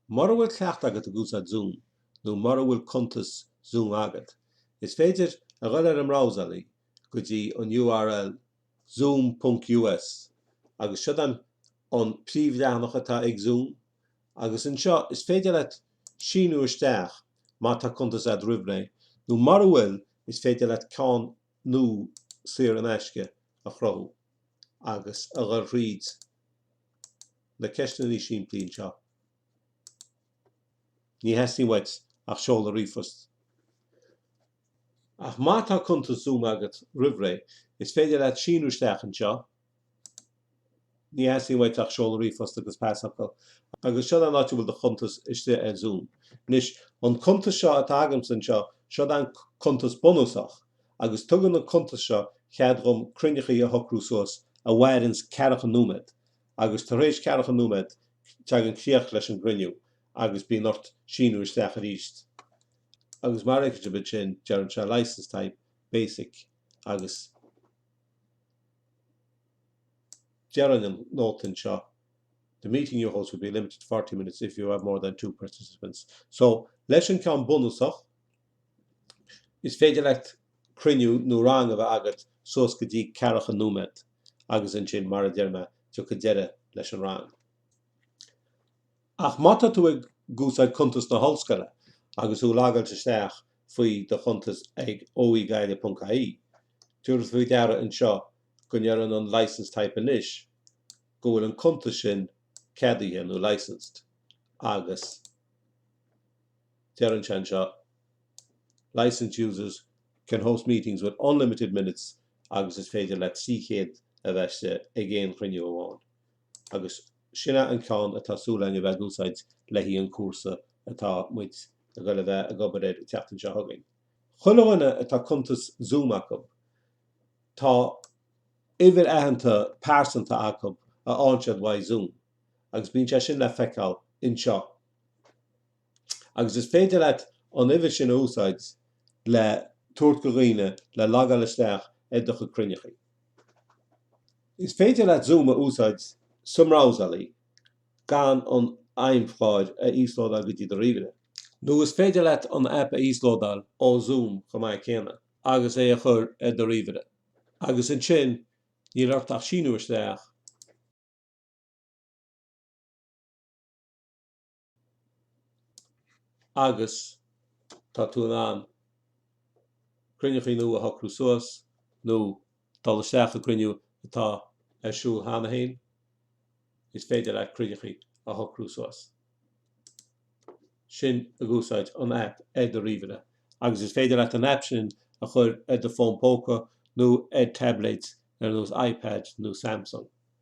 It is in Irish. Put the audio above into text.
Mura bhfuil cleachtadh agat ag úsáid Zoom, nó mura bhfuil cuntas Zoom agat, is féidir a dhul ar an mbrabhsálaí go dtí an url zoom ponc us agus siod an príomhleathanach atá ag Zoom agus anseo is féidir leat síniú isteach má tá cuntas agat roimh ré nó mura bhfuil is féidir leat ceann nua saor in aisce a chruthú agus a dhul thríd na ceisteannaí simplí anseo. Ní theastaíonn uait ach seoladh ríomhphoist. Ach má tá cuntas Zoom agat roimhré, is féidir leat síniú isteach anseo, ní theastaíonn uait ach seoladh ríomhphost agus pasfhocal, agus siod an áit a bhfuil do chuntas istigh ar Zoom. Anois, an cuntas seo atá agamsa anseo, siod an cuntas bunúsach, agus tugann an cuntas seo cead dhom cruinneachaí a shocrú suas a mhaireanns ceathracha nóiméad, agus tar éis ceathracha nóiméad teagann críoch leis an gcruinniú agus bíonn ort síniú isteach arís agus mar a fheiceann sibh ansin deireann sé Licence Type, Basic agus deireann an nóta anseo The meeting you host will be limited to forty minutes if you have more than two participants. So, leis an gceann bunúsach, Is féidir leat cruinniú nó rang a bheith agat suas go dtí ceathracha nóiméad agus ansin, mar a deir mé, tiocfaidh deireadh leis an rang. Ach má tá tú ag úsáid cuntas na hollscoile agus thú logáilte isteach faoi do chuntas ag oegaile.ie, tabhair faoi deara anseo go ndeireann an License Type anois go bhfuil an cuntas sin ceadaithe nó Licensed agus. Deireann sé anseo, Licensed users can host meetings with unlimited minutes agus is féidir leat 300 a bheith istigh ag aon chruinniú amháin. Agus sin é an ceann atá súil againn a bheith ag úsáid le haghaidh an chúrsa atá muid ag dul a bheith ag obair air an tseachtain seo chugainn. Chuile dhuine a bhfuil cuntas Zoom acu, tá uimhir aitheanta pearsanta acu a fhaigheann siad uaidh Zoom agus bíonn sé sin le feiceáil anseo. agus is féidir leat an uimhir sin a úsáid le tabhairt go dhaoine le logáil isteach ar do chuid cruinneachaí. Is féidir leat Zoom a úsáid sa mbrabhsálaí gan an fheidhmchlár a íoslódáil go dtí do ríomhaire. Nó is féidir leat an aip a íoslódáil ó Zoom chomh maith céanna agus é a chur ar do ríomhaire, agus ansin níl ort ach síniú isteach, agus tá tú in ann cruinneachaí nua a shocrú suas nó dul isteach i gcruinniú atá ar siúl cheana féin, is féidir leat cruinneachaí a shocrú suas. sin ag úsáid an aip ar do ríomhaire, agus is féidir leat an aip sin a chur ar do fón póca nó ar taibléid ar nós iPad nó Samsung.